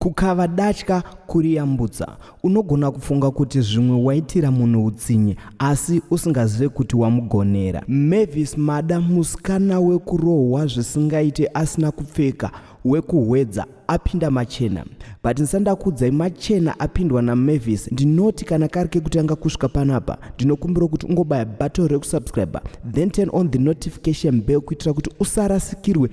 Kukava datya kuriyambutsa. Unogona kufunga kuti zvimwe waitira munhu utsinye asi usingazive kuti wamugonera. Mavis Mada musikana wekurohwa zvisingaite asina kupfeka wekuhwedza apinda machena but ndisandakudzai machena apindwa namavis ndinoti kana kari kekutanga kusvika panapa ndinokumbira kuti ungobaya button rekusubscriber then turn on the notification bell kuitira kuti usarasikirwe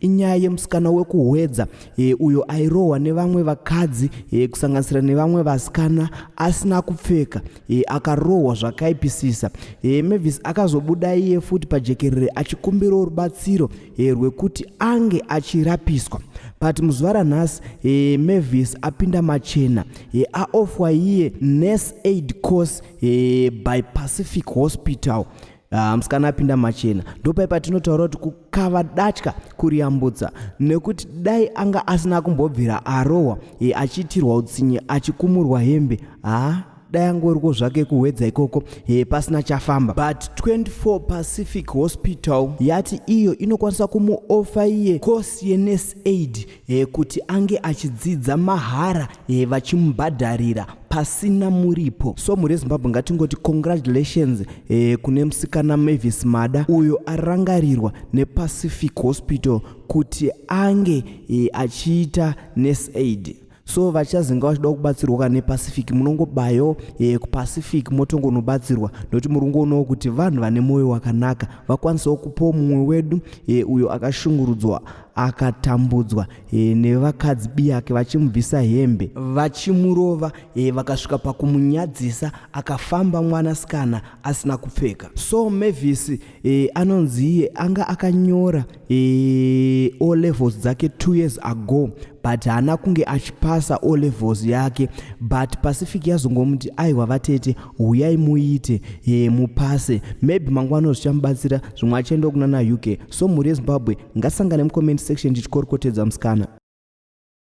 inyaya yemusikana wekuhwedza e, uyo airohwa nevamwe vakadzi e, kusanganisira nevamwe vasikana asina kupfeka e, akarohwa zvakaipisisa e, mavis akazobuda iye futi pajekerere achikumbirawo rubatsiro e, rwekuti ange achirapiswa but muzuva ranhasi e, mavis apinda machena e, aofwa iye nurse aid course e, by pacific hospital Ah, musikana apinda machena ndopai patinotaura kuti kukava datya kuriyambutsa nekuti dai anga asina kumbobvira arohwa e, achiitirwa utsinye achikumurwa hembe haa ah, dai angoriko zvake kuhwedza ikoko e, pasina chafamba but 24 pacific hospital yati iyo inokwanisa kumuofa iye course yenes aid e, kuti ange achidzidza mahara e, vachimubhadharira pasina muripo so mhuri yezimbabwe ngatingoti congratulations eh, kune musikana mavis mada uyo arangarirwa nepacific hospital kuti ange eh, achiita nes aid so vachazinga vachida kubatsirwa kana nepacific munongobayo eh, kupacific motongonobatsirwa nokuti muri kungoonawo kuti vanhu vane mwoyo wakanaka vakwanisawo kupawo mumwe wedu eh, uyo akashungurudzwa akatambudzwa e, nevakadzi biyake vachimubvisa hembe vachimurova e, vakasvika pakumunyadzisa akafamba mwanasikana asina kupfeka so mavis e, anonzi iye anga akanyora e, o levels dzake two years ago but haana kunge achipasa o levels yake but pacific yazongomuti aiwa vatete huyai muite e, mupase maybe mangwana zvichamubatsira zvimwe achaenda kunana uk So mhuri yeZimbabwe ngasangane mucomment section tichikorokotedza musikana.